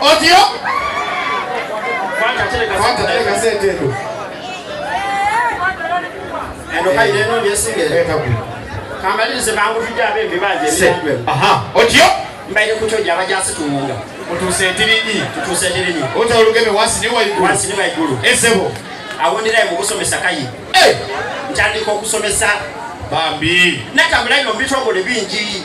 Otyo? Kwata tereka sente eno. Eno kayi neno byesinge. Eka ku. Kamalize bangu tujja bembi baje. Aha. Otyo? Mbaye kutoja abajasi tumunga. Mutuse tirinyi. Tutuse tirinyi. Ota olugeme wasi ni waigulu. Wasi ni waigulu. Esebo. Awondera mu kusomesa kayi. Eh. Ntandika okusomesa bambi natambula ino mbitongole bingi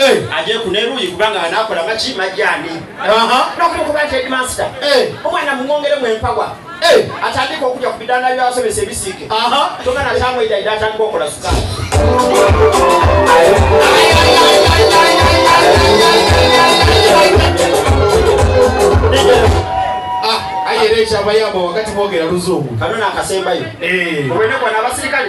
Eh. aje kuneruyi kubanga anakola maki majani nokuba nti edmaster eh. omwana mumwongere mwempawa eh. atandika okuja ku bidanda byabasomesa ebisiike togana tamweidaida atandika okola sukali ah, ayerekyavayo abo wakati bogera luzungu kano nakasembayo obwenekwana abasirikale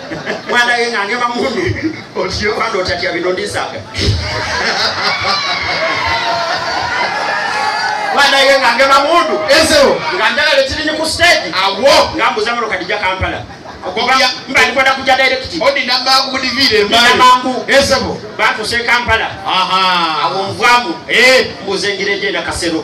mwana yenga angema mundu otyo kwanda otatya bino ndisaga mwana yenga angema mundu ezewo nga njagala ekirinyi ku stage awo nga mbuza mero kadija kampala mbali kwenda kuja direct odi na bangu budi vile mbali na bangu ezewo bantu se kampala aha awo mvwamu eh mbuze ngire jenda kasero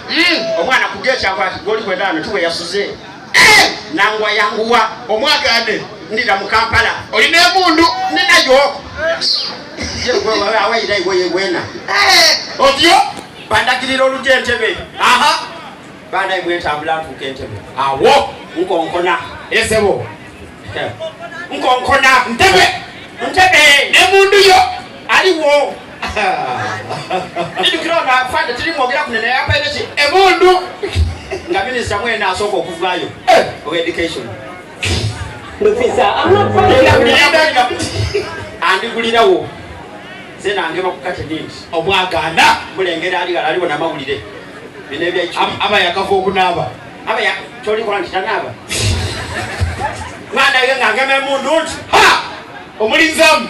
hmm, omwana kuga ekyava ati goli kwenaano tuwe yasuze eh! nangwa yanguwa omwagade ndira mu kampala olina emundu ninayo awayira iweye wena eh! otyo bandagirira olugya entebe aha banaye bwentambula ntuuka entebe awo nkonkona esebo nkonkona ntebe ntebe nemundu yo aliwo Ndikira ono afande tiri mwogera kunene yapaire ki emundu nga minisita mwena asooka okuvayo eh. owa education andigulirawo ze nange bakukate nindi obwaganda mulengera ali gala aliwo namawulire bino ebyaki aba yakava okunaaba aba kyolikola nti tanaaba mwana ye ngangema emundu nti ha omulinzamu